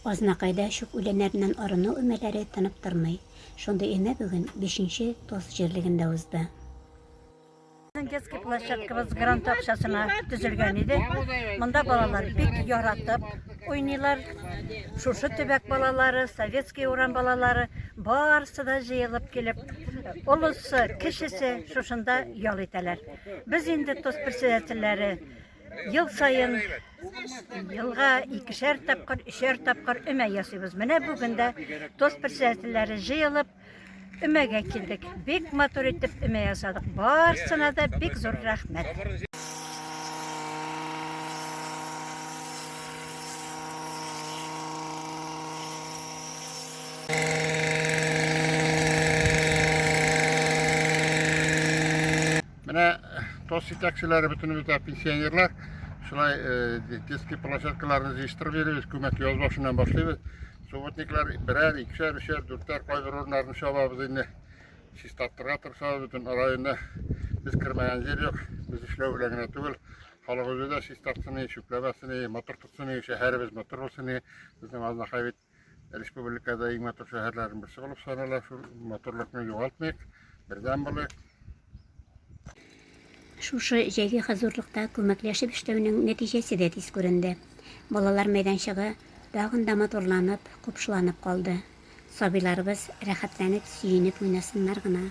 Азнакайда чүп үләннәреннән арыну өмәләре тынып тормый. Шундый өмә бүген бишенче Тос җирлегендә узды. Детский площадкабыз грант акчасына төзелгән иде. Монда балалар бик яратып уйныйлар. Шушы төбәк балалары, Советский урам балалары барысы да җыелып килеп, олысы, кечесе шушында ял итәләр. Без инде ТОС председательләре Ел саен елга икешәр тапкыр, өчәр тапкыр өмә ясыйбыз. Менә бүген дә тоз председательләре җыелып өмәгә килдек. Бик матур итеп өмә ясадык. Барсына да бик зур рәхмәт. Менә тос итәкчеләре бөтенебез дә пенсионерлар. Шулай э, детский площадкаларны җыештырып йөрибез, күмәк яз башыннан башлыйбыз. Субботниклар берәр, икешәр, өчәр, дүртәр кайбер урыннарны чабабыз инде. Чистарттырга тырышабыз бөтен районда. Без кермәгән җир юк. Без эшләү белән генә түгел, халык үзе дә чистартсын, чүпләмәсен, матур тотсын, шәһәребез матур булсын. Безнең Азнакай бит республикада иң матур шәһәрләрнең берсе булып санала. Шул матурлыкны югалтмыйк, бердәм булыйк. Шушы җәйге хозурлыкта күмәкләшеп эшләүнең нәтиҗәсе дә тиз күренде. Балалар мәйданчыгы тагын да матурланып, купшыланып калды. Сабыйларыбыз рәхәтләнеп, сөенеп уйнасыннар гына.